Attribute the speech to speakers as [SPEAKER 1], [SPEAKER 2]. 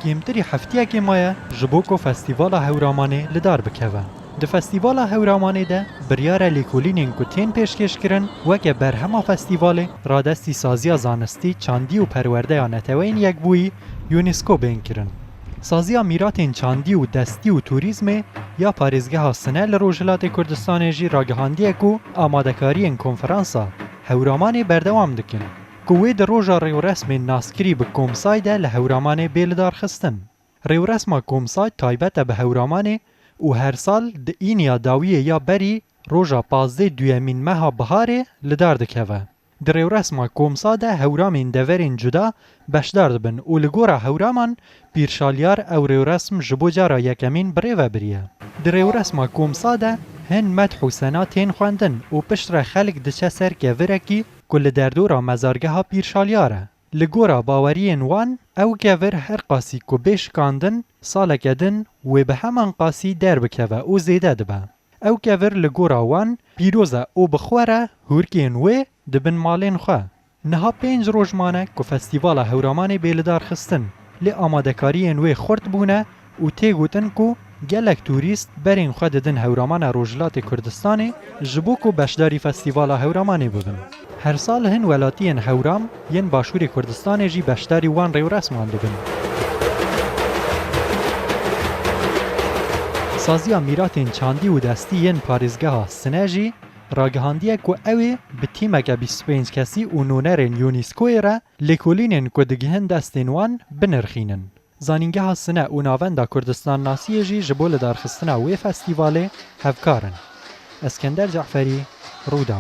[SPEAKER 1] Kêmtirî hefteyekê maye ji bo ku Festîvala Hewramanê li dar bikeve. Di Festîvala Hewramanê de biryar e lêkolînên ku tên pêşkêşkirin weke berhema festîvalê radestî Saziya Zanistî, Çandî û Perwerdeya Neteweyên Yekbûyî, UNESCO, bên kirin. Saziya Mîratên Çandî û Destî û Turîzmê ya Parêzgeha Sine li Rojhilatê Kurdistanê jî ragihandiye ku amadekariyên konferansa Hewramanê berdewam dikin. Ku wê di roja rêwresmên naskirî bi Komsay de li Hewramanê bê lidarxistin. Rêwresma Komsay taybet e bi Hewramanê û her sal di îniya dawiyê ya berî roja pazdê duyemîn meha biharê li dar dikeve. Di rêwresma Komsa de hewramên deverên cuda beşdar dibin û li gora Hewraman Pîrşaliyar ew rêwresm ji bo cara yekemîn bi rê ve biriye. Di rêwresma Komsa de hin medh û sena tên xwendin û piştre xelk diçe ser kevirekî ku li derdora mezargeha Pîr Şalyar e. Li gora baweriyên wan ew kevir her qasî ku bê şikandin saleke din wê bi heman qasî derbikeve û zêde dibe. Ew kevir li gora wan pîroz e û bi xwe re hûrkên wê dibin malên xwe. Niha pênc roj mane ku Festîvala Hewramanê bê lidarxistin, lê amadekariyên wê xurt bûne, û tê gotin ku gelek tûrîst berên xwe didin Hewramana Rojhilatê Kurdistanê ji bo ku beşdarî Festîvala Hewramanê bibin. Her sal hin welatiyên Hewram yên Başûrê Kurdistanê jî beşdarî wan rewresman dibin. Saziya Mîratên Çandî û Destî yên Parêzgeha Sine jî ragihandiye ku ew ê bi tîmeke bîst û pênc kesî û nûnerên UNISCO'yê re lêkolînên ku digihin destên wan binirxînin. Zanîngeha Sine û Navenda Kurdistannasiyê jî ji bo lidarxistina wê festîvalê hevkar in. Eskender Ce'ferî, Rûdaw.